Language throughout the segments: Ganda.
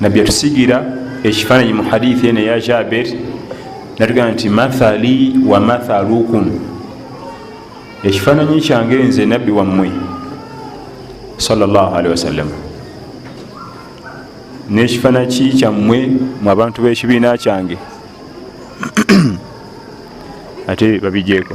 nabbi atusigira ekifaananyi mu hadithi eno eya jaber natugamba nti mathali wa mathalukum ekifaananyi kyange nze nabbi wammwe salllahalihi wasallam n'ekifaanaki kyammwe mu abantu b'ekibiina kyange ate babijeeko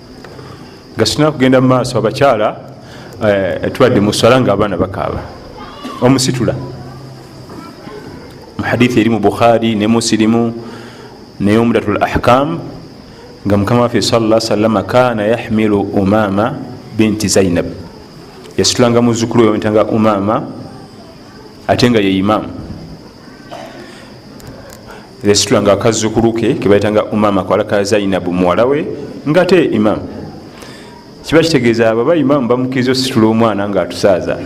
gasina kugenda mumaaso abakyala eh, tubadde muswala nga abaana bakaaba omusitula muhadithi eri mu bukhari ne musilimu naye omudatul ahkam nga mukama waffe sala salama kana yahmilu umama binti zainab yasitulanga muzukulu weyamutanga umama ate nga ye imamu yasitula nga akazzukulu ke kebaita nga umama kawala ka zainabu muwala we nga te imamu kiba kitegeeza baba imamu bamukiriza ositula omwana nga atusaaza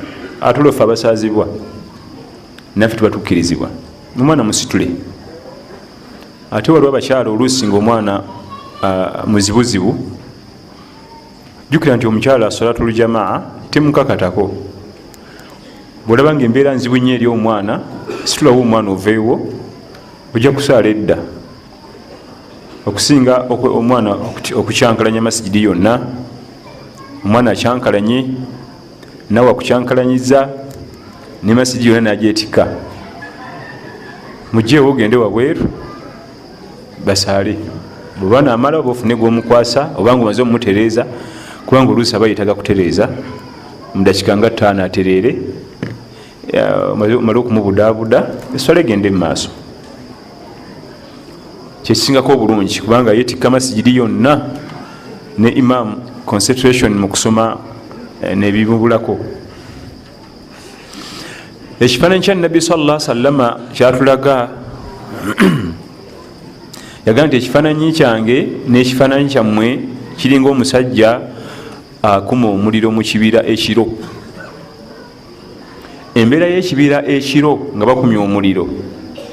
atulofe abasaazibwa naffe tuba tukkirizibwa omwana musitule ate waliwo abakyala oluusi nga omwana muzibuzibu jukira nti omukyala solatul jamaa temukakatako bwolaba nga embeera nzibu nyo eri omwana situlawo omwana oveewo ojja kusaala edda okusinga omwana okukyankalanya masigidi yonna omwana akyankalanye nawe akukyankalanyiza ne masigidi yonna nagyetikka mugyewo ogende wabweru basaale bweba namala oba ofune gwomukwasa obanga omaze omumutereeza kubanga oluusi aba yetaga kutereeza mudakika nga taano atereere omale okumubudaabuda eswala egende mu maaso kyekisingako obulungi kubanga yetikka masigiri yonna ne imam concentration mu kusoma eh, nebibubulako ekifaananyi kya nabbi salla sallama kyatulaga yagamba nti ekifaananyi kyange n'ekifaananyi kyammwe kiringa omusajja akuma omuliro mu kibira ekiro embeera y'ekibira ekiro nga bakumya omuliro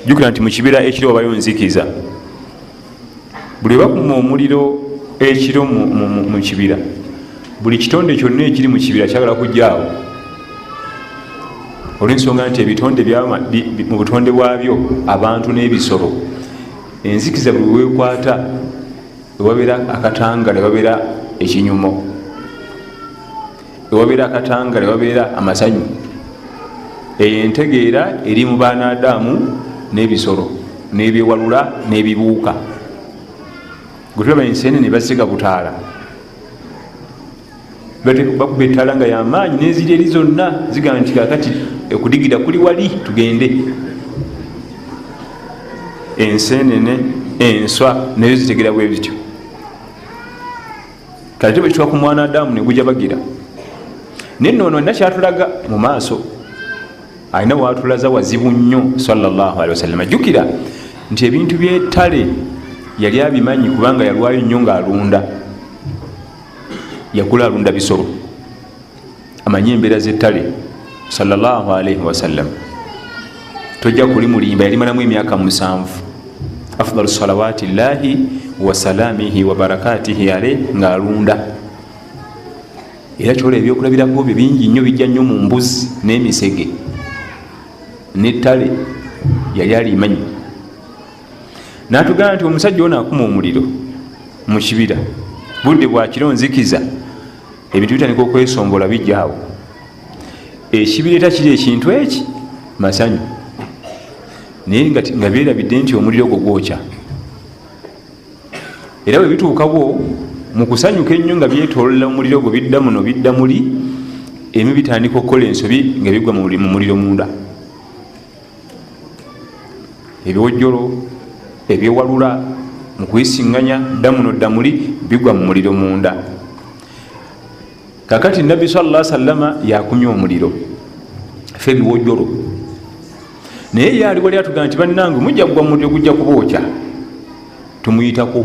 jukira nti mu kibira ekiro wabayo nzikiza buli bakuma omuliro ekiro mu kibira buli kitonde kyonna ekiri mu kibira kyagala kujjaawo olwensonga nti ebitonde mu butonde bwabyo abantu n'ebisolo enzikiza buli wekwata wewabeera akatanga newabeera ekinyumo ewabeera akatangala ewabeera amasanyu eyo entegeera eri mu baanaadaamu n'ebisolo n'ebyewalula n'ebibuuka gwetulaba enseene ne basiga butaala bakuba ettaala nga yamaanyi n'eziri eri zonna zigamba nti kakati okudigira kuli wali tugende enseenene enswa nayo zitegera bwe bityo kati tebekitwa ku mwana adamu neguja bagira naye noono alina kyatulaga mu maaso alina watulaza wazibu nnyo sawasalama jjukira nti ebintu byetale yali abimanyi kubanga yalwayo nnyo ngaalunda yagula alunda bisolo amanyi embeera zettale salllahalaihi wasallam tojja kuli mulimba yalimalamu emyaka musanvu afdalu salawati llahi wasalamihi wabarakatihi ale ngaalunda era kyola ebyokulabirako byo bingi nnyo bijja nnyo mu mbuzi n'emisege nettale yali alimanyi natugamba nti omusajja ono akuma omuliro mu kibira budde bwakiro nzikiza ebintu bitandika okwesombola bijaawo ekibireeta kiri ekintu eki masanyu naye nga berabidde nti omuliro ogwo gwokya era bwe bituukawo mu kusanyuka ennyo nga byetolola omuliro ogwo bidda muno bidda muli emi bitandika okukola ensobi nga bigwa mu muliro munda ebiwojjolo ebyewalula mu kuyisinganya ddamuno ddamuli bigwa mu muliro munda kakati nabbi salla sallama yakumya omuliro fe ebiwojjolo naye yaali wali atugamba nti bannange mujja kugwa mu muliro gujja kubookya tumuyitako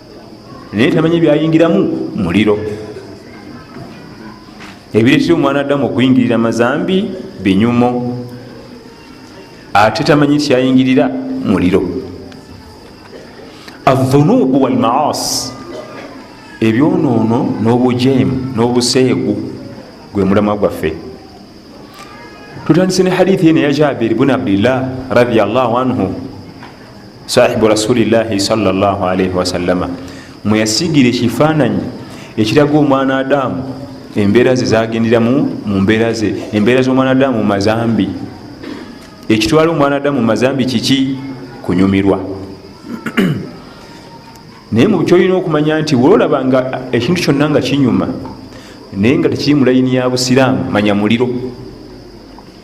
naye tamanyi byayingiramu muliro ebiresi omwana addamu okuyingirira mazambi binyumo ate tamanyi kyayingirira muliro adhunubu walmaasi ebyonoono n'obujeemu n'obuseegu gwe mulamwa gwaffe tutandise ne hadithi eno ya jabiri bun abdillah radiallahu anhu sahibu rasulillahi salllahalaihi wasallama mweyasigira ekifaananyi ekiraga omwana adamu embeera ze zagenderamu mu mbeera ze embeera z'omwana adamu mu mazambi ekitwala omwana adamu mu mazambi kiki kunyumirwa naye mukyolina okumanya nti wolaba nga ekintu kyonna nga kinyuma naye nga tekiri mu layini ya busiraamu manya muliro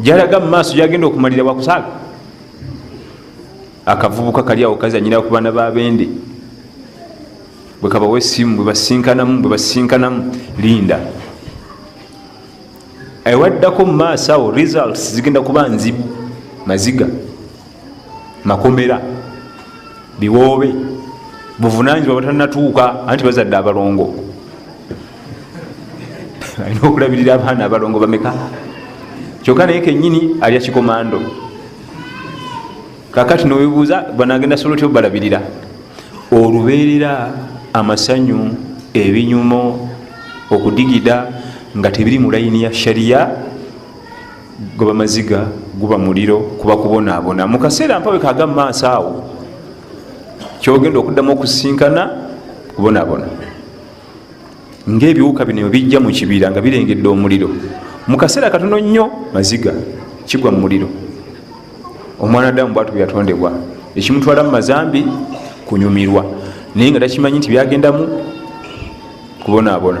jalaga mumaaso jagenda okumalira wakusaala akavubuka kali awo kazanyira ku baana babende bwekabawa esimu bwebasinkanamu bwebasinkanamu linda ewaddako mumaaso awo results zigenda kuba nzibu maziga makomera biwoobe buvunanyizibwa batanatuuka anti bazadde abalongo alina okulabirira abaana abalongo bameka kyokka naye kenyini alya kikomando kakati nowebuuza banagenda sobola otya obalabirira olubeerera amasanyu ebinyumo okudigida nga tebiri mu layini ya shariya goba maziga guba muliro kuba kubonaabona mu kaseera mpabeka aga mu maaso awo kyogenda okuddamu okusinkana kubonaabona ngaebiwuka bino bijja mu kibira nga birengedde omuliro mu kaseera katono nnyo maziga kigwa mu muliro omwana damu bwatu bweyatondebwa ekimutwala mu mazambi kunyumirwa naye nga takimanyi nti byagendamu kubonaabona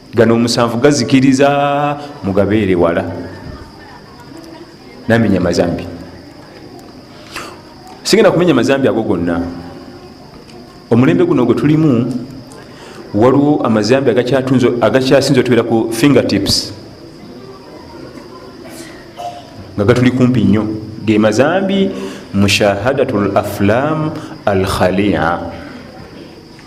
gano omusanvu gazikiriza mugabeere wala namenya mazambi sigenda kumenya mazambi ago gonna omulembe guno gwe tulimu waliwo amazambi agakyasinza otubeera ku fingertips nga gatuli kumpi nnyo ge mazambi mushahadatu laflam alkhalia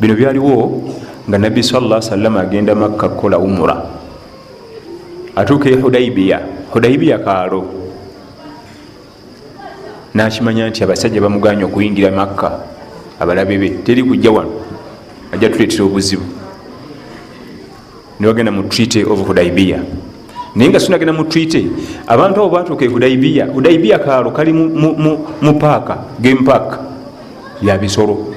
bino byaliwo nga nabbi salla salama agenda makka kukola umura atuuka e hudaibiya hudaibiya kaalo nakimanya nti abasajja bamuganya okuyingira makka abalabe be teri kujja wano ajja tuletera obuzibu nebagenda mu treaty of hudaibia naye nga sinagenda mu treaty abantu abo batuuka e hudaibia hudaibia kaalo kali mu paaka game park ya bisolo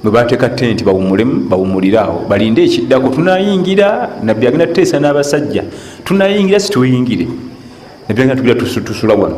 bwebateeka tenti bawumulemu bawumulire awo balinde ekiddako tunayingira nabbi agenda tuteesa n'abasajja tunayingira situyingire nabbi agenda tugira tusula wano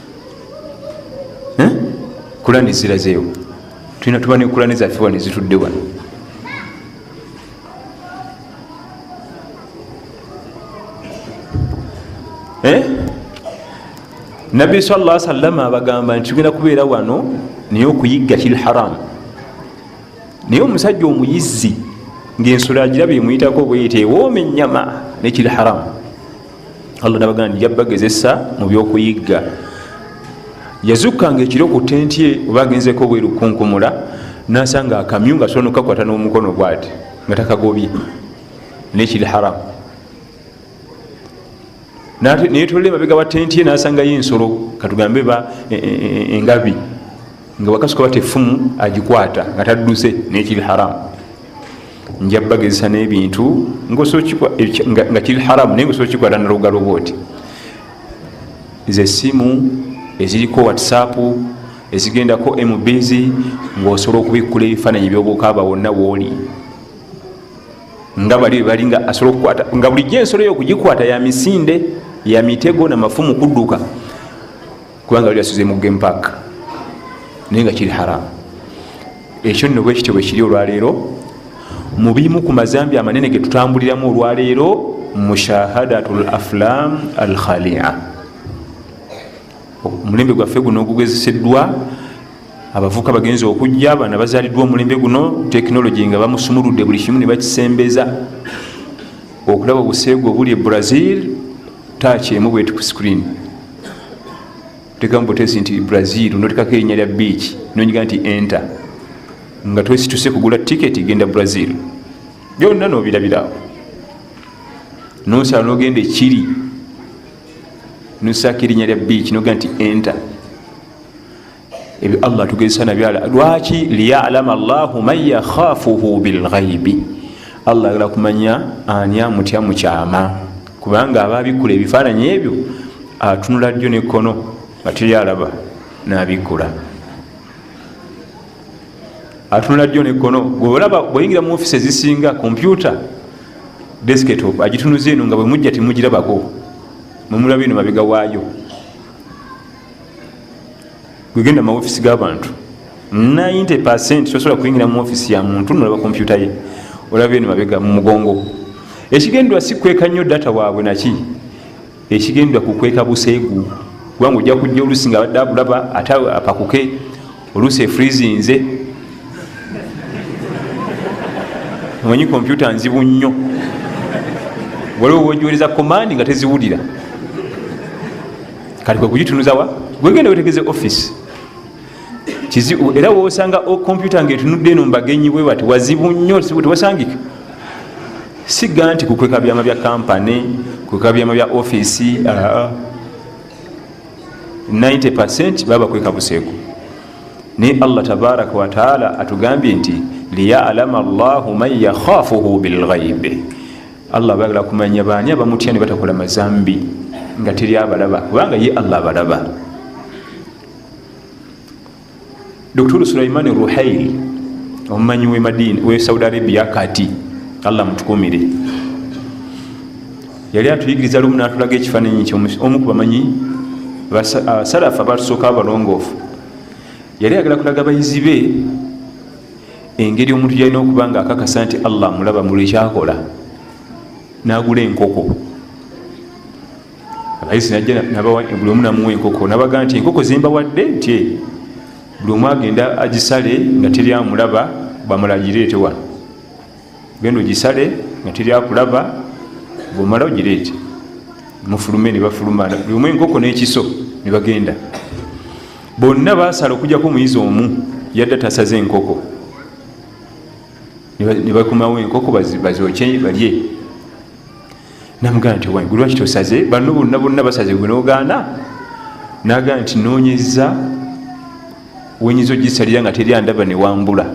eh? kulani zirazeewo tulina tuba ne kulani zaffe wano ezitudde wano eh? nabbi salla salama abagamba nti tugenda kubeera wano naye okuyigga kiri haramu naye omusajja omuyizzi ngaensolo agiraba emuyitako obweyita ewooma ennyama nekiri haramu allah nabagaa nti jabbagezesa mu byokuyigga yazukkanga ekiro ku tenti ye oba agenzeko obweru kunkumula nasanga akamyu nga sobola nokakwata n'omukono bwati nga takagobye nekiri haramu naye tolole mabega wa tenti ye nasangayo ensolo katugambe ba e, e, e, engabi nga wakasuka bati efumu agikwata nga tadduse nekiri haramu njabagezesa nebintu nga kiri haramu naye ngosobola kikwata nalugalo bwoti nze esimu eziriko whatsapp ezigendako mbs ngaosobola okubikkula ebifaananyi byobukaaba wonna wooli nga bali bali nga asobola okukwata nga bulijjo ensolo yo okugikwata ya misinde ya mitego na mafumu kudduka kubanga bali basuze mu game park naye nga kiri haramu ekyo nno bwekityo bwekiri olwaleero mu bimu ku mazambi amanene ge tutambuliramu olwaleero mushahadatu l aflam al khalia omulembe gwaffe guno ogugezeseddwa abavuka bagenza okujja bana bazaliddwa omulembe guno tekinologi nga bamusumuludde buli kimu nebakisembeza okulaba obuseegu obuli e brazil takyemu bweti ku screen tekamu butesi nti brazil notekako erinya lya beach nonyiga nti enter nga twesituse kugula tiketi genda brazil byonna nobirabirawo nosala nogenda ekiri nosako erinya lya beach noga nti enter ebyo allah tugezesa nabyala lwaki liyalama llahu man yakhafuhu bilghaibi allah agala kumanya ani amutya mukyama kubanga ababikula ebifaananyi ebyo atunula ddyo nekkono nga teyalaba nabikula atunula ddyo nekkono gweolaba bweyingira mu ofisi ezisinga kompyuta desketop agitunuza eno nga bwemujja temugirabako mwemulaba eno mabega waayo gwegenda mumaofisi gabantu 90 percent tosobola kuyingira mu ofisi ya muntu nolaba kompyuta ye olaba eno mabega mu mugongo ekigendwa si kweka nnyo data waabwe naki ekigendwa kukweka buseegu kubanga ojja kujja olusi nga abadde akulaba ate apakuke oluusi efrizinze omanyi kompyuta nzibu nnyo waliwo wojiwereza komandi nga teziwulira kati kwe kugitunuzawa gwegenda wetegeze office kizibu era wosanga kompyuta nga etunudde eno mbagenyi bwe bati wazibu nnyo tewasangika siga nti kukweka byama bya kampani kukweka byama bya ofisi aa ah, ah. 90 percent baba kwekabuseeko naye allah tabaraka wataala atugambye nti liyalama llahu man yakhafuhu bilghaibe allah bagala kumanya baani abamutya ne batakola mazambi nga teri abalaba kubanga ye allah abalaba dr sulaimani ruhail omumanyi wemadini we saudi arabia kati allah mutukumire yali atuyigiriza lumu natulaga ekifananyi kyomu kubamanyi basalafu abatusooka abalongoofu yali agala kulaga bayizi be engeri omuntu gyalina okuba nga akakasa nti allah mulaba mulwekyakola nagula enkoko abayisi najja buli omu namuwa enkoko nabaga nti enkoko zembawadde nti buli omu agenda agisale nga teri amulaba bamala agireete wano genda ogisale nga teri akulaba bwomala ogireete mufulume nebafuluma buli omu enkoko n'ekiso nebagenda bonna basala okujjako omuyizi omu yadde tasaze enkoko nebakumawo enkoko bazoke balye namugamba nti owange lwaki tosaze banno bonna bonna basaze gwe nogaana nagamba nti nonyeza wenyinza ogisalira nga teri andaba newambula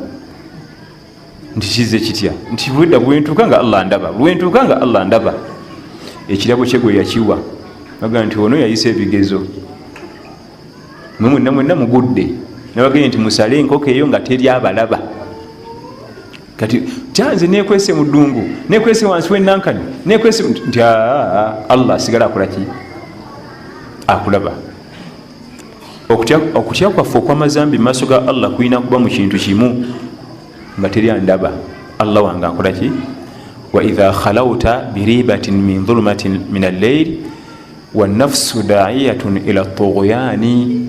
nti kize kitya nti bwedda bwentuuka nga allah ndaba bwentuuka nga allah ndaba ekirabo kye gwe yakiwa nagamba nti ono yayisa ebigezo mwe mwenna mwenna mugudde nabagende nti musale enkoko eyo nga teri abalaba kati kyanze nekwese mudungu nekwese wansi wenankani nekwese nti allah asigala akolaki akulaba okutya kwaffe okwamazambi mumaaso ga allah kulina kuba mukintu kimu nga teri andaba allah wange akolaki waidha khalauta biribatin min dhulumatin min alleil wanafsu daiyatun ila tuguyani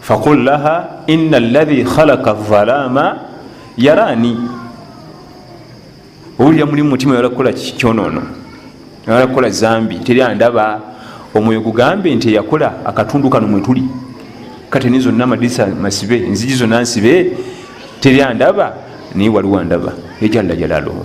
fakul laha ina alahi khalaka alzalaama yaraani owulira muli mumutima oyala kukola kyonono oyala kukola zambi teri andaba omwoyo gugambe nti eyakola akatundu kano mwetuli kateni zonna amadisa masibe enziji zonna nsibe teri andaba naye waliwo andaba ejalla jalaluhu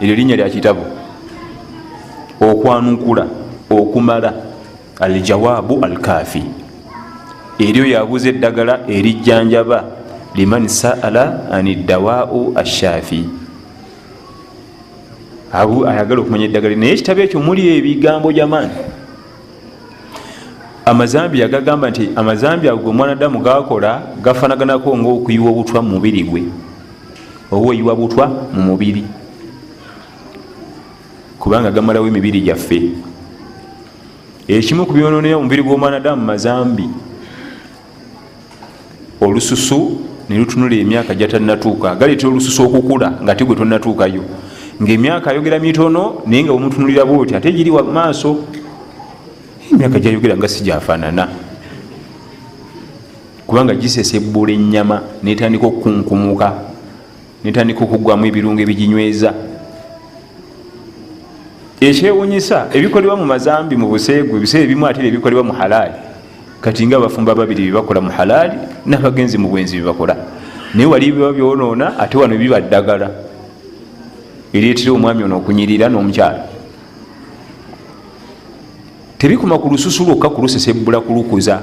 eryo linnya lya kitabo okwanukula okumala aljawaabu alkaafi eryo yabuuza eddagala erijjanjaba liman saala ani ddawaau ashaafi abu ayagala okumanya eddagala naye ekitabo ekyo muli ebigambo jamaani amazambi yagagamba nti amazambi ago gwe mwanadamu gakola gafanaganako ngaokuyiwa obutwa mu mubiri gwe oba oyiwa butwa mu mubiri kubanga gamalawo emibiri gyaffe ekimu ku byononera omubiri gw'omwanadamu mazambi olususu nelutunula emyaka gyatanatuuka galeetera olususu okukula nga tigwe tonatuukayo ngaemyaka ayogera mitono naye nga omutunulira bwoti ate giri wamaaso emyaka gyayogera nga si gyafaanana kubanga gisesebbula ennyama netandika okukunkumuka netandika okugwamu ebirungo ebiginyweza ekyewunyisa ebikolebwa mu mazambi mu buseegu ebiseera ebimu ate ebikolebwa mu halaali kati nga abafumba babiri byebakola mu halaali nabagenzi mu bwenzi byebakola naye wali biba byonoona ate wano biba ddagala ereetera omwami ono okunyirira n'omukyalo tebikoma ku lususu lwokka kulusesebbula kulukuza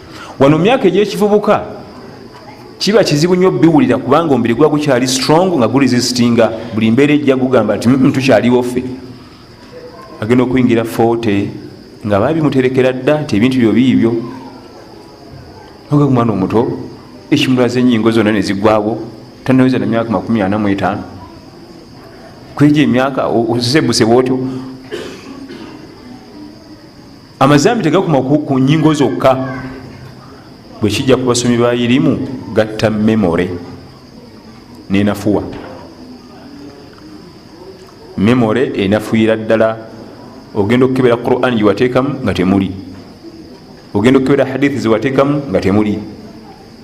wano myaka egyekivubuka kiba kizibu nnyo biwulira kubanga omubiri guba gukyali strong nga guresistinga buli mbeera ejja gugamba nti mm, tukyaliwo ffe agenda okuyingira fote nga babimuterekera dda nti ebintu byo biibyo oga kumwana omuto ekimulaza enyingo zonna nezigwawo tanaweza na myaka makumi ana mu etaano kwejo emyaka osebusebwa otyo amazambi tegakuma ku nyingo zokka bwekijja ku basomi ba irimu gatta memore nenafuwa memore enafuyira ddala ogenda okukebera quran gyewateekamu nga temuli ogenda okukebera hadithi zewateekamu nga temuli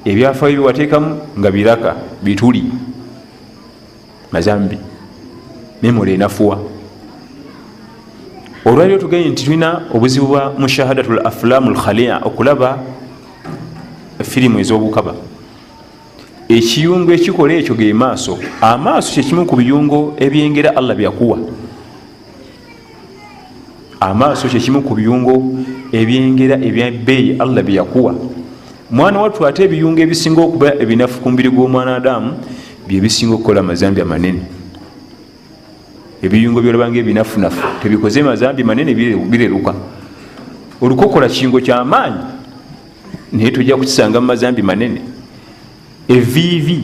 ebyafayo byewateekamu nga biraka bituli mazambi memora enafuwa olwaliro tugenye nti tulina obuzibu bwa mushahadatu l afulamu lkhalia okulaba firimu ezobukaba ekiyungo ekikola ekyo ge maaso amaaso kyekimu ku biyungo ebyengera allah byakuwa amaaso kyekimu ku biyungo ebyengera ebyabbeeyi allah byeyakuwa mwana wattu ate ebiyungo ebisinga okuba ebinafu ku mubiri gw'omwana adamu byebisinga okukola amazambi amanene ebiyungo byolabanga ebinafunafu tebikoze mazambi manene bireruka olukokola kiingo kyamaanyi naye tojja kukisanga mumazambi manene eviivi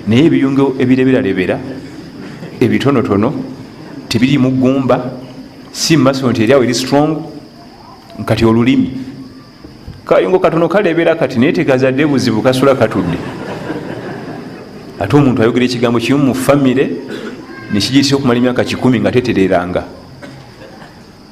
naye ebiyungo ebireberalebera ebitonotono tebiri mu gumba si mumaso nti eryawo eri strong kati olulimi kayungo katono kalebera kati naye tegazadde buzibu kasula katudde ate omuntu ayogera ekigambo kimu mu famire nekigitisa okumala emyaka kikumi nga tetereranga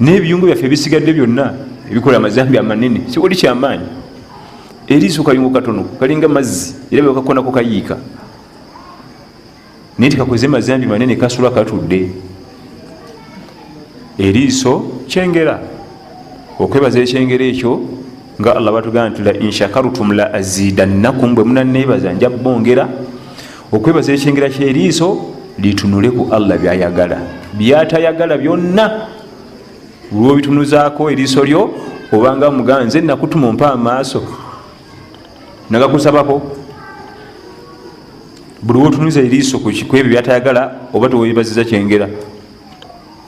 n'ebiyungo byaffe ebisigadde byonna ebikola amazambi amanene siwali kyamaanyi eriiso kayungo katono kalinga mazzi era bwekakonako kayiika naye tikakoze mazambi manene kasula katudde eriiso kyengera okwebaza ekyengera ekyo nga allah batugamba nti la inshakarutum la azidannakum bwe munaneebaza nja bongera okwebaza ekyengera kyeriiso litunule ku allah byayagala byatayagala byonna lwobitunuzaako eriiso lyo obanga mugaa nze nakutuma ompa amaaso nagakusabako buli wotunuza eriiso kwebyo byatayagala oba tewebaziza kyengera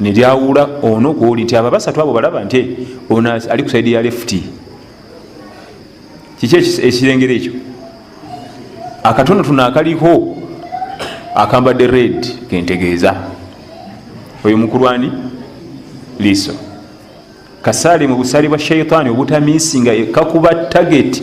nelyawula ono gwoli nti abo abasatu abo balaba nti ono ali kusaidi ya lefuti kiki ekirengero ekyo akatono tuno akaliko akambadde red kentegeeza oyo mukulwani liiso kasaali mu busaali bwa shaitaani obutamiisinga kakuba tageti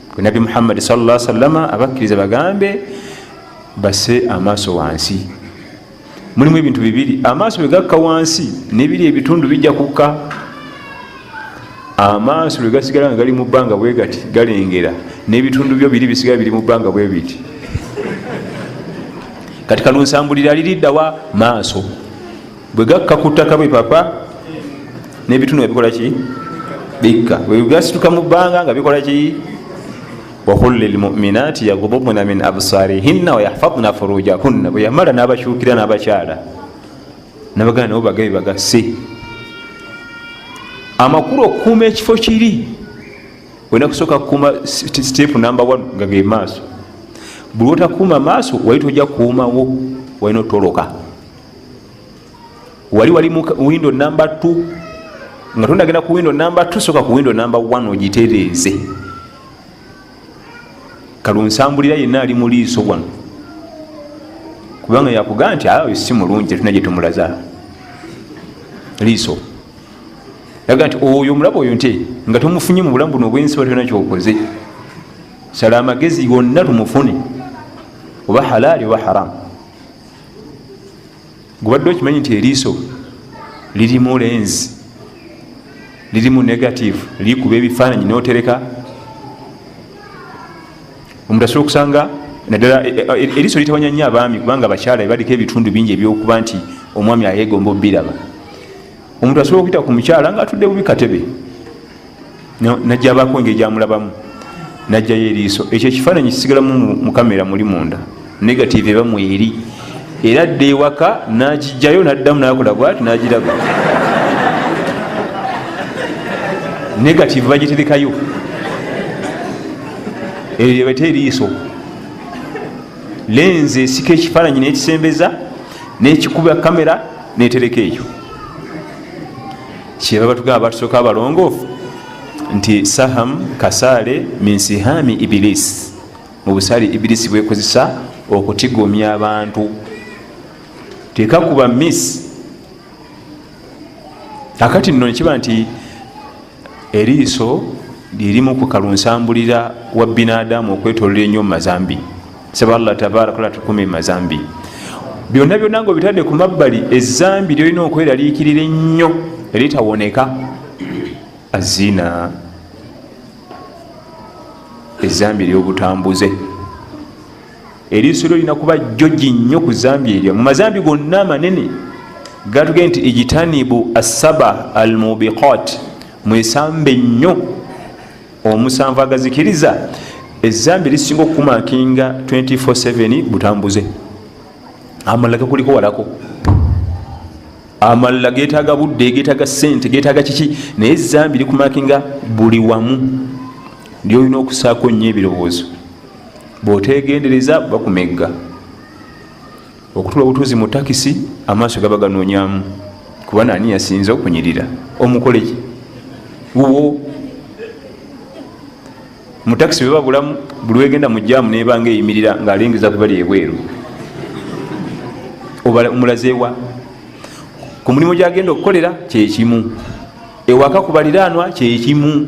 gwe nabbi muhammadi salla salama abakkiriza bagambe base amaaso wansi mulimu ebintu bibiri amaaso bwegakka wansi nebiri ebitundu bijja kukka amaaso lwegasigala nga gali mu bbanga bwegati galengera n'ebitundu byo biri bisigala biri mu bbanga bwebiti kati kalunsambulira liriddawa maaso bwe gakka ku ttaka bwe papa n'ebitundu nga bikola ki bikka bwe gasituka mu bbanga nga bikola ki wakul lilmuminati yagudubna min absarihinna wayahfadna furujakunna bwe yamala n'abakyukira n'abakyala nabagana nabo bagabe bagase amakulu okukuuma ekifo kiri olina kusooka kukuuma sitepu namba 1 nga ge maaso buli otakuuma maaso wali tojja kukuumawo walina otoloka wali wali mu windo namba t nga tondagenda ku windo namba t soka ku windo namba 1 ogitereeze kalunsambulira yenna ali muliiso wano kubanga yakugaa nti awe si mulungi tetuna gyetumulaza liiso aga nti oyo omulaba oyo nte nga tomufunye mu bulamu buno obwensi batona kyokoze sala amagezi gonna tumufune oba halaali oba haramu gubadde okimanyi nti eriiso lirimu lenzi lirimu negative likuba ebifaananyi notereka omuntu asobola okusanga naddala e, e, e, eriiso litawanya nnyo abaami kubanga abakyala baliko ebitundu bingi ebyokuba nti omwami ayegomba obiraba omuntu asobola okuyita ku mukyala nga atudde bubi katebe najabako engeri gyamulabamu najjayo eriiso ekyo ekifaananyi kisigalamu mu kamera muli munda negative eba mweri era adda ewaka nakijjayo naddamu nakola bwati nagiraba negative bagiterekayo eyo ebata eriiso lenze esika ekifaananyi nekisembeza nekikuba kamera netereka eyo kyebaba tugamba batusoka abalongoofu nti saham kasaale minsihami ibilisi mu busaale ibilisi bwekozesa okutigomya abantu tekakuba miss akati nno nekiba nti eriiso lyerimu ku kalunsambulira wa binadamu okwetolola enyo mu mazambi saba allah tabaraka la tukumi mazambi byonna byonna nga obitadde ku mabbali ezambi lyolina okweraliikirira ennyo eritawoneka azina ezambi eryobutambuze eriiso lyo lina kuba joji nnyo ku zambi eryo mu mazambi gonna amanene gatugee nti ijitanibu assaba almubiqat mwesambe nnyo omusanvu agazikiriza ezambi lisinga okukumakinga 247 butambuze amalala gakuliko walako amalala getaga budde getaga sente getaga kiki naye zambi likumakinga buli wamu lyolina okusaako nnyo ebirowoozo bwotegendereza bakumegga okutula obutuuzi mu takisi amaaso gaba ganoonyamu kuba naani yasinza okunyirira omukoleki wuwo mu takisi bwe babulamu buli wegenda mu jaamu nebanga eyimirira ng'alengeza ku bali ebweru omulazeewa ku mulimu gyagenda okukolera kyekimu ewaka ku baliraanwa kyekimu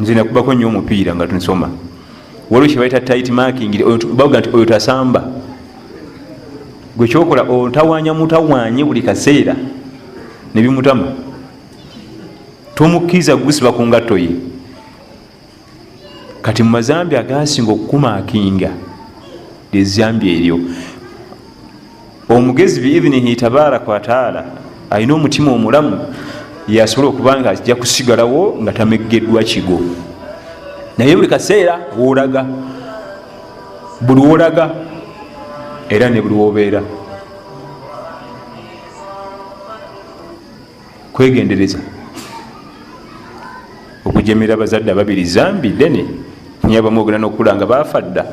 nze nakubako nyo omupiira nga tunsoma waliwo kyebaita tit making baga nti oyo tasamba gwe kyokola otawanya mutawanye buli kaseera nebimutama tomukkiriza gusiba ku ngatto ye kati mu mazambi agasinga okukumakinga lyezambi eryo omugezi biidhinihi tabaraka wataala alina omutima omulamu yasobola okuba nga ajja kusigalawo nga tameggeddwa kigo naye buli kaseera wolaga buli wolaga era ne buli wobeera kwegendereza okujemera abazadde ababiri zambi dene naye abamu ogenda nokukula nga baafa dda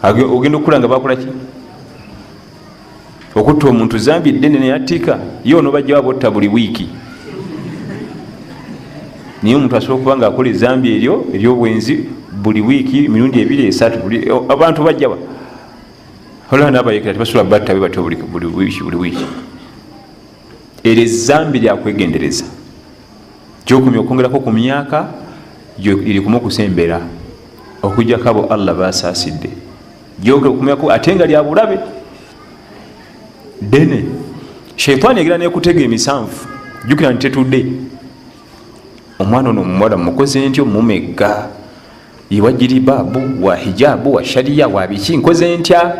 ogenda okukula nga bakolaki okutta omuntu zambi dene naye attika ye onobajjawo abotta buli wiiki naye omuntu asobola okuba nga akola ezambi eryo eryobwenzi buli wiiki emirundi ebiri esatu abantu bajjawa olaba nabayekera tebasula batta be batyo buli wiiki buli wiiki eryo ezambi lyakwegendereza gyokumya okwongerako ku myaka gyerikumu okusembera okujjako abo allah basaasidde gyokumyako ate nga lyabulabe dene sheitaani egera nekutega emisanvu jukira nti tetudde omwana ono omuwala mukoze ntyo mumegga iwa jiribabu wa hijabu wa shariya wa biki nkoze ntya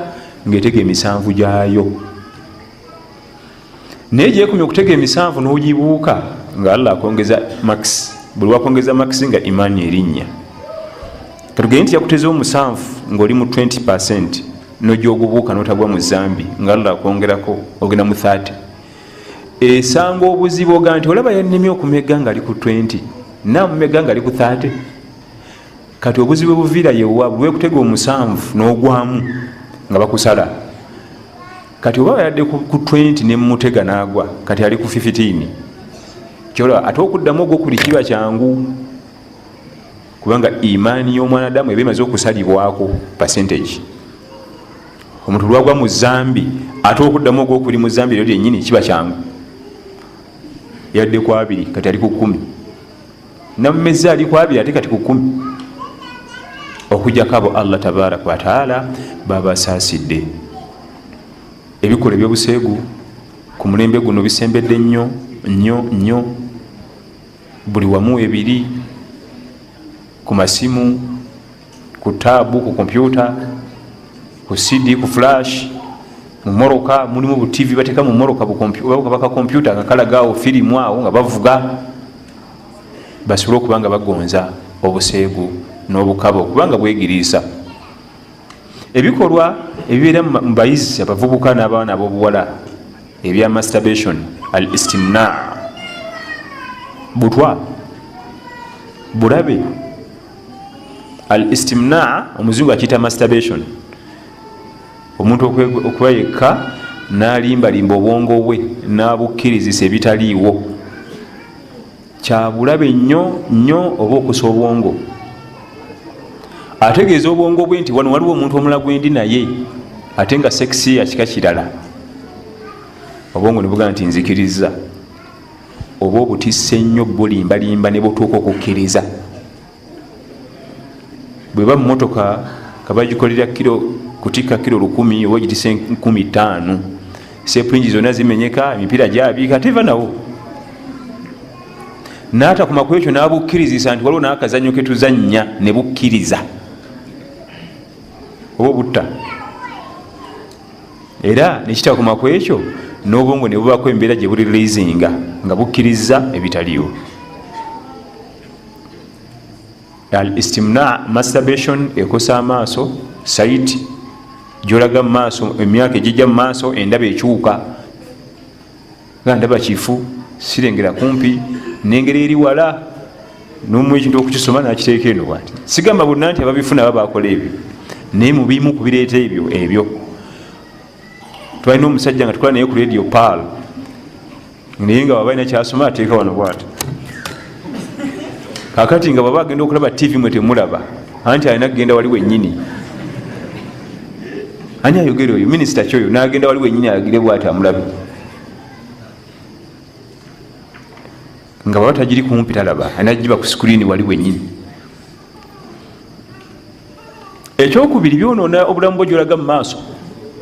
ngaetega emisanvu gyayo naye gyekumya okutega emisanvu nogibuuka nga allah akwongeza max buli wakwongeza max nga imaani erinnya katugende nti yakuteza omusanvu ngaoli mu 20 percent nogyogubuuka notagwa mu zambi nga allah akwongerako ogenda mu 30 esanga obuzibu oga nti olaba yanemye okumega ngaali ku 20 namumega ngaali ku 30 kati obuzibu ebuviira yewa lwekutega omusanvu n'ogwamu nga bakusala kati oba bayadde ku 20 nemutega nagwa kati ali ku 15 kyola ate okuddamu ogwokuli kiba kyangu kubanga imaani y'omwanadamu eba emaze okusalibwako percentage omuntu lwagwa mu zambi ate okuddamu ogwokuli mu zambi eryo lyenyini kiba kyangu yadde ku abiri kati ali ku kumi namumezi ali kwabiri ate kati kukumi okujako abo allah tabaraka wataala babasaasidde ebikola ebyobuseegu ku mulembe guno bisembedde nnyo nnyo nnyo buli wamu ebiri ku masimu ku taabu ku kompyuta ku cd ku flash mumoroka mulimu bu tv bateka mumoroka baka kompyuta nga kalagaawo firimu awo nga bavuga basobole okubanga bagonza obuseegu n'obukaba okubanga bwegiriisa ebikolwa ebibeera mu bayizi abavubuka n'abaana ab'obuwala ebya masturbation al istimna butwa bulabe al istimnaa omuzungu akiyita masturbation omuntu okuba yekka nalimbalimba obwongo bwe nabukkirizisa ebitaliiwo kyabulabe nnyo nnyo oba okusa obwongo ategeeza obwongo bwe nti wano waliwo omuntu omula gwendi naye ate nga sekisi yakika kirala obwongo nebugamba nti nzikiriza oba obutisa ennyo bulimbalimba ne butuuka okukkiriza bwe ba mmotoka nga bagikolera kiro kutikka kiro lukumi oba gitisa enkumi ttaano sepulingi zonna zimenyeka emipiira gyabiika teva nawo n'atakuma ku ekyo n'abukkirizisa nti waliwo n'akazannyo ke tuzannya ne bukkiriza oba obutta era nekitakoma ku ekyo n'obwongo ne bubaako embeera gye buli releasinga nga bukkirizza ebitaliwo al istimna masturbation ekosa amaaso sait gyolaga mu maaso emyaka egijja mu maaso endaba ekyuka nga ndaba kifu sirengera kumpi nengeri eri wala nomu ekintu okukisoma nakiteeka eno bwati sigamba bonna nti ababifuna aba bakola ebyo naye mubimu kubireeta ebyo ebyo twalina omusajja nga tukola naye ku radio pal naye nga wabalina kyasoma ateeka wano bwati kakati nga bwaba agenda okulaba tv mwe temulaba anti alina kugenda wali wenyini ani ayogere oyo minisita kyoyo nagenda wali wenyini agire bwati amulabe nga baba tagiri kumpi talaba alina giba ku sikuriini wali wenyini ekyokubiri byonona obulamu bwo gyolaga mu maaso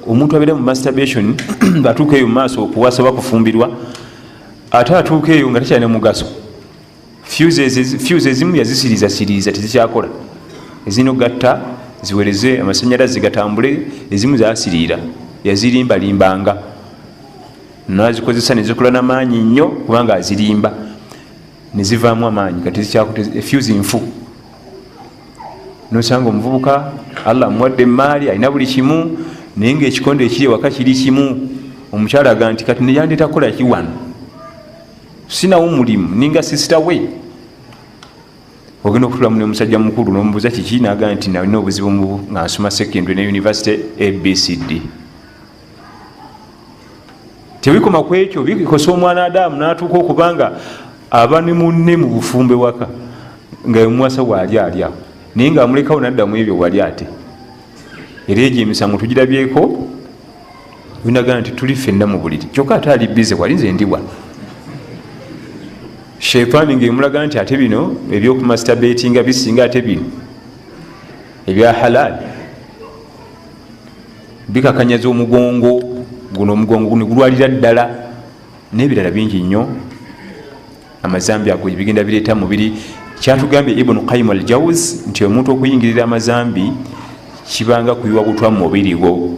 omuntu abeera mu masturbation atuuka eyo mu maaso okuwasaba kufumbirwa ate atuuka eyo nga tekyalina mugaso fuse ezimu yazisiriza siriza tezikyakola ezirina okugatta ziwereze amasanyalaze gatambule ezimu zasiriira yazirimbalimbanga nazikozesa nezikola namaanyi nnyo kubanga azirimba nezivaamu amaanyi kati fuse nfu nosanga omuvubuka allah amuwadde emaali alina buli kimu naye nga ekikondo ekiri ewaka kiri kimu omukyala aga nti kati neyandeta kukolaki wano sinawo mulimu ninga sisita we ogenda okutulamu nomusajja mukulu nomubuuza kiki naga nti nalina obuzibu nga nsoma secondary ne university abcd tebikoma ku ekyo bikosa omwana adamu natuuka okubanga aba ne munne mu bufumbe waka nga emuwasa waali alyawo naye nga amulekawo naddamu ebyo wali ate era egyo emisango tugirabyeko binagana nti tuli fenna mu buliri kyokka ate ali bize wali nze ndiwa sheitaani ngaemulaga nti ate bino ebyokumasitabetinga bisinga ate bino ebya halaali bikakanyaza omugongo guno omugongo guno gulwalira ddala nebirala bingi nnyo amazambi ago bigenda bireeta mubiri kyatugambye ibunu kaim al jaus nti omuntu okuyingirira amazambi kibanga kuyiwa butwa mu mubiri gwo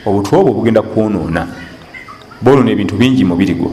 obutwa obwo bugenda kwonoona bonoona ebintu bingi mubiri gwo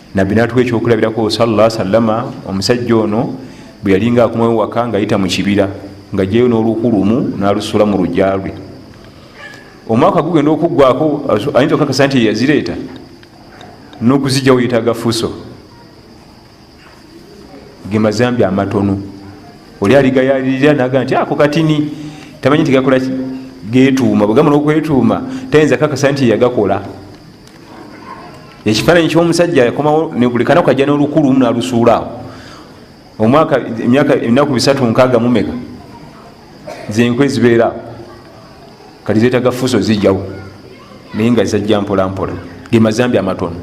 nabbi natuwa ekyokulabirako salla salama omusajja ono bwe yalinga akomawo waka ngaayita mu kibira nga jeyo n'oluku lumu n'alusula mu lugya lwe omwaka gugenda okuggwako ayinza okakasa nti yeyazireeta n'okuzijjawo yetaaga fuso ge mazambi amatono oli aligayalirira naga nti ako katini tamanyi nti gakola getuuma bwegamba nokwetuuma tayinza kakasa nti yagakola ekifaananyi kyomusajja yakomawo buli kanaku ajja nolukulu lumu nalusuulaawo omwaka emyaka enaku bisatu nkaaga mumeka zenkwe zibeeraawo kati zetaga fuso zijjawo naye nga zajja mpolampola gemazambi amatono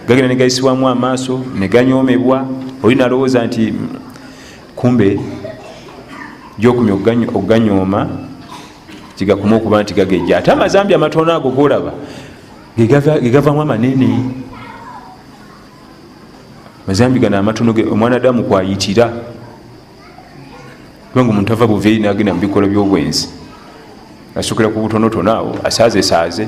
gagenda negayisibwamu amaaso neganyomebwa oli nalowooza nti kumbe gyokumya okuganyooma kigakuma okuba nti gagejja ate amazambi amatono ago golaba gegavamu amanene mazambi gano amatono ge omwana adamu kwayitira kubanga omuntu ava buveeri nagenda mu bikola byobwenzi asukira ku butonotono awo asaaze saaze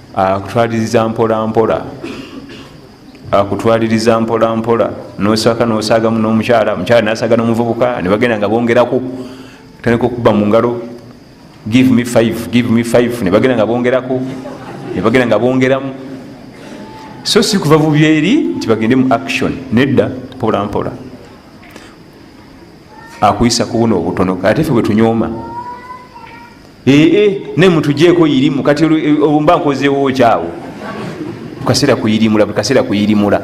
akutwaliriza mpolampola akutwaliriza mpolampola nosaka nosagamu nomukyala mukyala nasaga nomuvubuka nebagenda nga bongeraku tandika okuba mungalo give me five give me five nebagenda nga bongeraku nebagenda nga bongeramu so si kuva bubyeri nti bagende mu action nedda mpolampola akuyisa kubuna obutono ate fe bwetunyooma ee naye mutujeeko irimu kati mba nkozeewo kyawo kaseera kuyirimula buli kaseera kuyirimula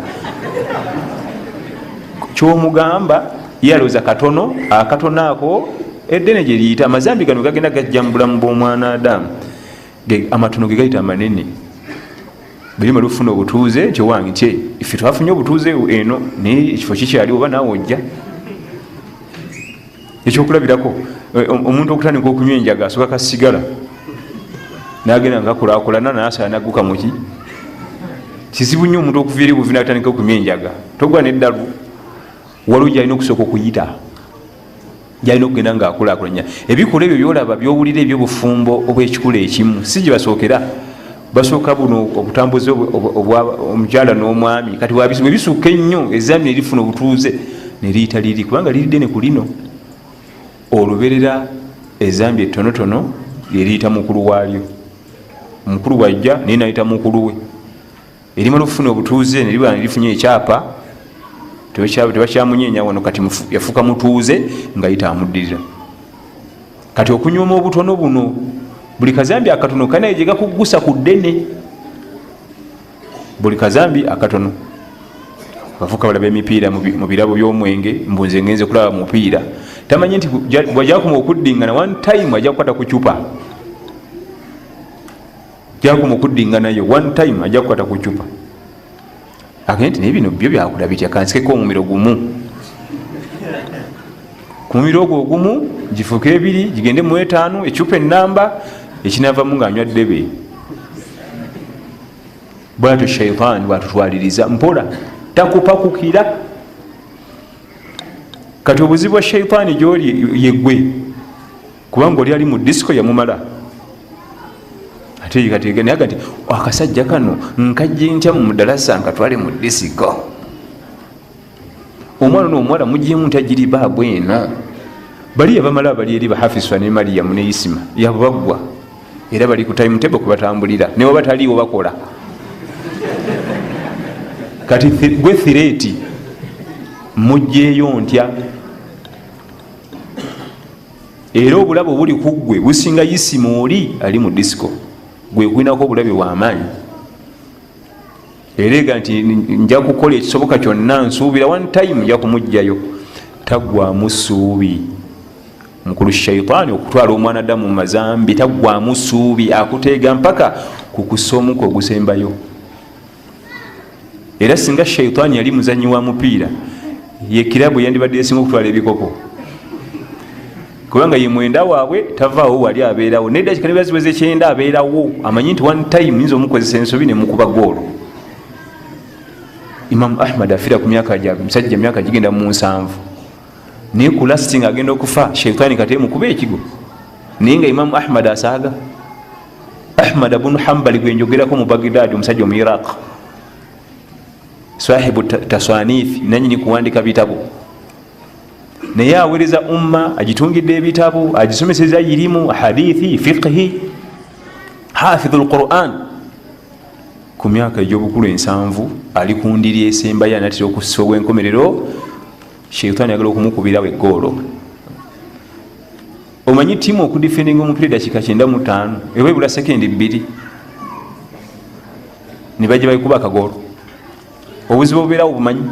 kyomugamba yaloza katono akatono ako eddene gyeriyita amazambi gano gagenda gajja mu bulamu bw'omwana adamu amatono ge gayita amanene bweyima lufuna obutuuze nti owange nti ife twafunye obutuuze eno naye ekifo kikyaliwo oba naawe ojja ekyokulabirako eh, omuntu okutandika okunywa enjaga asoka kasigala nagenda ngakulakulana nasala naguka muki kizibu nnyo omuntu okuva eri buvi natandika okunywa enjaga togwa neddalu waliwo gyalina okusooka okuyita gyalina okugenda nga akulakulanya ebikula ebyo byolaba byowulira ebyobufumbo obwekikula ekimu si gyebasookera basooka buno obutambuzi omukyala n'omwami kati wabizibu ebisukka ennyo ezambi nerifuna obutuuze neriyita liri kubanga liri ddene ku lino oluberera ezambi ettonotono lyeriyita mukulu waalyo omukulu bwajja naye nayita mukulu we erimala okufuna obutuuze neriba nerifunye ekyapa tebakyamunyenya wano kati yafuuka mutuuze ngayita amuddirira kati okunywoma obutono buno buli kazambi akatono kanaye gyegakuggusa ku ddene buli kazambi akatono abavuka balaba emipiira mu birabo by'omwenge mbu nze ngenze kulaba mupiira tamanyi nti bwajakuma okuddingana one time ajja kukwata ku cupa jakuma okuddinganayo one time ajja kukwata ku cupa agende nti naye bino byo byakula bitya kansikeko omumiro gumu ku mumiro ogwo ogumu gifuuke ebiri gigende mu etaanu ecupa enamba ekinavamu nga anywa ddebe bwatyo shaitaani bwatutwaliriza mpola takupakukira kati obuzibu bwa shaitaani gyoli yegwe kubanga oli ali mu disco yamumala ateekateekanaga nti akasajja kano nkajje ntya mu mudalasa nga twali mu disiko omwana no omuwala mugyemu nti agiri baabu eno bali yabamala abali eri bahafiswa ne mariyamu ne isima yabaggwa era bali ku time table kubatambulira ne waba taliiwo bakola kati gwe thireeti mugyeyo ntya era obulabe obuli ku ggwe businga yisima oli ali mu disiko gwe kulinako obulabe wamaanyi ereega nti nja kukola ekisoboka kyonna nsuubira one time nja kumugjayo taggwamu suubi mukulu shaitaani okutwala omwana damu mumazambi taggwamu suubi akuteega mpaka ku kusomuka ogusembayo era singa shaitaani yali muzanyi wa mupiira ye kirabu yandibadde esinga okutwala ebikopo kubanga ye mwenda waabwe tavaawo wali abeerawo naye dakika niba ziweza ekyenda abeerawo amanyi nti one time nyinza omukozesa ensobi nemukuba goolo imamu ahmad afira ku myaka ja musajja myaka gigenda mu nsanvu naye ku lasting agenda okufa shaitaani kati emukuba ekigo naye nga imamu ahmad asaaga ahmad bunu hambali gwenjogerako mu bagdad omusajja omu iraq sahibu taswanifi nanyini kuwandika bitabo naye awereza umma agitungidde ebitabo agisomeseza irimu hadithi fiqhi hafidhu lquran ku myaka egyobukulu ensanvu ali kundiri esembayo anatera okussa obwenkomerero sheitaani agala okumukubirawo egoolo omanyi tiimu okudifendinga omupiira edakika kyenda mutaano eba ebula sekendi bbiri ne bajja baikuba akagoolo obuzibu obubeerawo bumanyi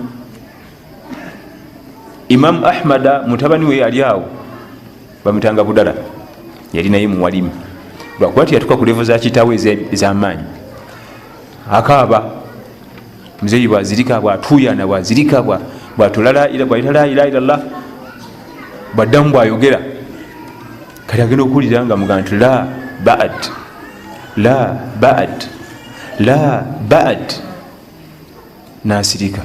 imamu ahmada mutabani we yali awo bamutanga budala yali naye muwalimu lwakuba tiyatuka ku levo za kitaawo ez'amaanyi akaaba muzeeyi bwazirika bwatuuyana bwazirika bwatula laila bwayita laila ilallah bwaddamu bwayogera kati agenda okuwulira nga muga nti la bad la bad la bad nasirika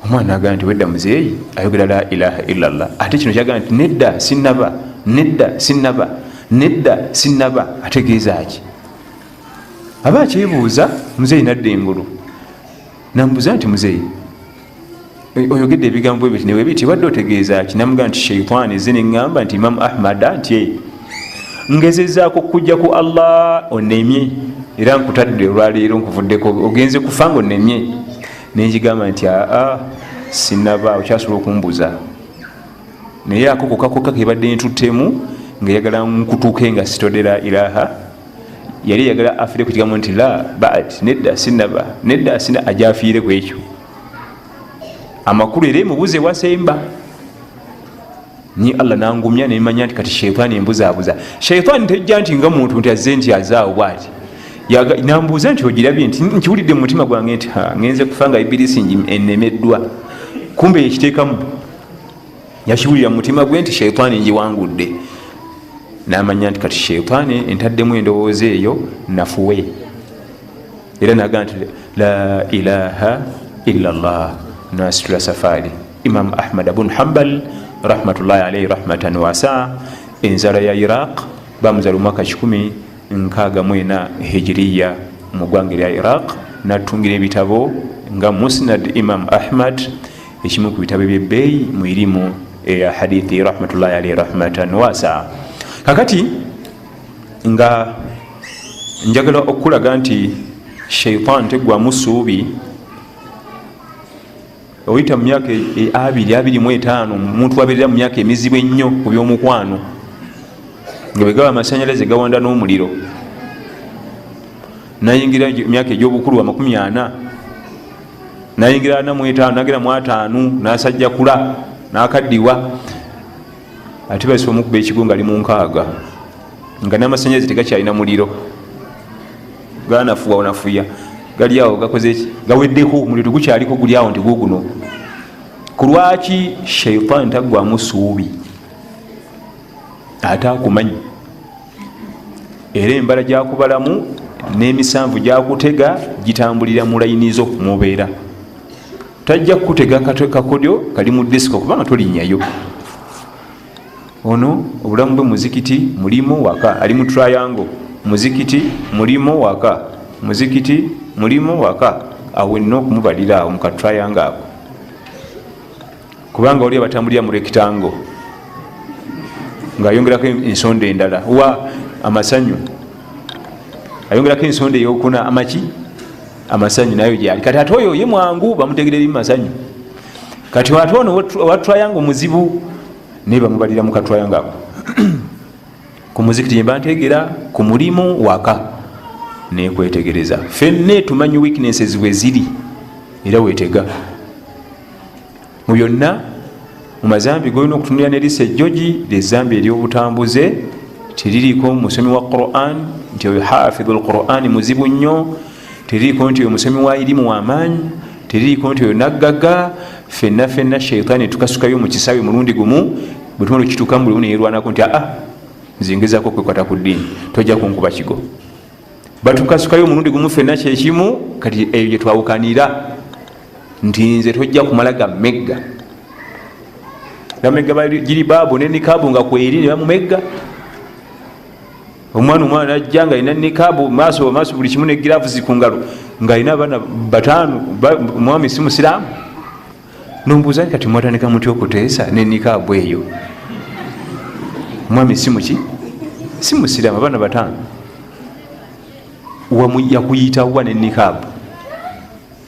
omwana aga nti wedda muzeeyi ayogera la ilaha illallah ate kino kyaga nti nedda sinaba nedda sinaba nedda sinaba ategeeza ki aba akyebuuza muzeeyi nadda engulu nambuuza nti muzeeyi oyogedde ebigambo ebyo ti newebiti wadde otegeeza ki namuga nti sheitan eze neŋŋamba nti imamu ahmada nti e ngezezaako kujja ku allah onemye era nkutadde olwaleero nkuvuddeko ogenze kufa nga onemye nenjigamba nti aa sinaba okyasobola okumbuza naye akokokakoka kebadde ntuttemu ngaeyagala nkutuuke nga sitodera ilaha yali yagala afire ku kigambo nti la bad nedda sinaba nedda sina aja afiire ku ekyo amakulu era emubuza ewasemba ni allah nangumya nemanya nti kati sheitaani embuzabuza sheitaani tejja nti nga muntu nti azze nti azaawo bwati nambuuza nti ogirabye nti nkiwulidde mu mutima gwange nti ngenze kufa nga ibirisi enemeddwa kumbe yekiteekamu yakiwulira mumutima gwe nti sheitaani njiwangudde namanya nti kati sheitaani entaddemu endowooza eyo nafuwe era naga nti la ilaha illa llah nasitula safaari imamu ahmad bun hambal rahmatullahi alaihi rahmatan wasa enzala ya iraq bamuzala omwaka 164 hijiriya mu gwanga erya iraq natungira ebitabo nga musnad imam ahmad ekimu ku bitabo byebbeeyi mu irimu eya hadithi rahmatullahi alaihi rahmatan wasa kakati nga njagala okukulaga nti shaitan tegwamu suubi oyita mu myaka e, e, abiri abiri mu etaano omuntu abeerera mu myaka emizibu ennyo ku byomukwano nga bwegaba amasanyalaze gawanda n'omuliro nayingira myaka egy'obukulu amakumi ana nayingira ana mwetaano nagera mu ataanu nasajja kula nakaddiwa ate basi omukuba ekigo nga ali mu nkaaga nga namasanyalaze tegakyalina muliro ganafuwa onafuya gali awo gakozeki gaweddeko omuliro tegukyaliko guli awo nti guguno ku lwaki shaitan taggwamu suubi ate akumanyi era embala gyakubalamu n'emisanvu gyakutega gitambulira mu layini zo mubeera tajja kukutega kakodyo kali mu disiko kubanga tolinnyayo ono obulamu bwe muzikiti mulimu waka ali mu triangle muzikiti mulimu waka muzikiti mulimu waka awenna okumubalira awo mu katriangle ako kubanga waliyo batambulira mu rekitango ngaayongerako ensonda endala wa amasanyu ayongerako ensonda eyokuna amaki amasanyu nayo gyali kati ate oyo ye mwangu bamutegera ebimu masanyu kati ate ono owatrayanga omuzibu naye bamubalira mukatrayanga ako ku muzikiti yemba ntegera ku mulimu waka nekwetegereza fenne tumanyi weaknesses bweziri era wetega mu byonna mu mazambi golina okutunulira nerisa ejjogi lyezambi eryobutambuze teririko musomi wa quran nti oyo hafidhu lqurani muzibu nnyo teririko nti oyo musomi wa irimu wamaanyi teririko nti oyo naggaga fenna fenna shaitaani tukasukayo mu kisawe mulundi gumu bwetumala okitukamu bulimu neyerwanako nti aa nzingezako kwekwata ku ddiini tojja kunkuba kigo batukasukayo omulundi gumu fenna kyekimu kati eyo gyetwawukanira nti nze tojja kumala gamegga gamegga bagiri baabu ne nikaabu nga kweri ne bamumegga omwana omwana najja nga alina nikaabu maaso maaso buli kimu ne giravuzi ku ngalo nga alina abaana bataano omwami si musiraamu nombuuza ni kati mwatandika muty okuteesa ne nikaabu eyo omwami si muki si musiraamu abaana bataano yakuyitawa ne nikaabu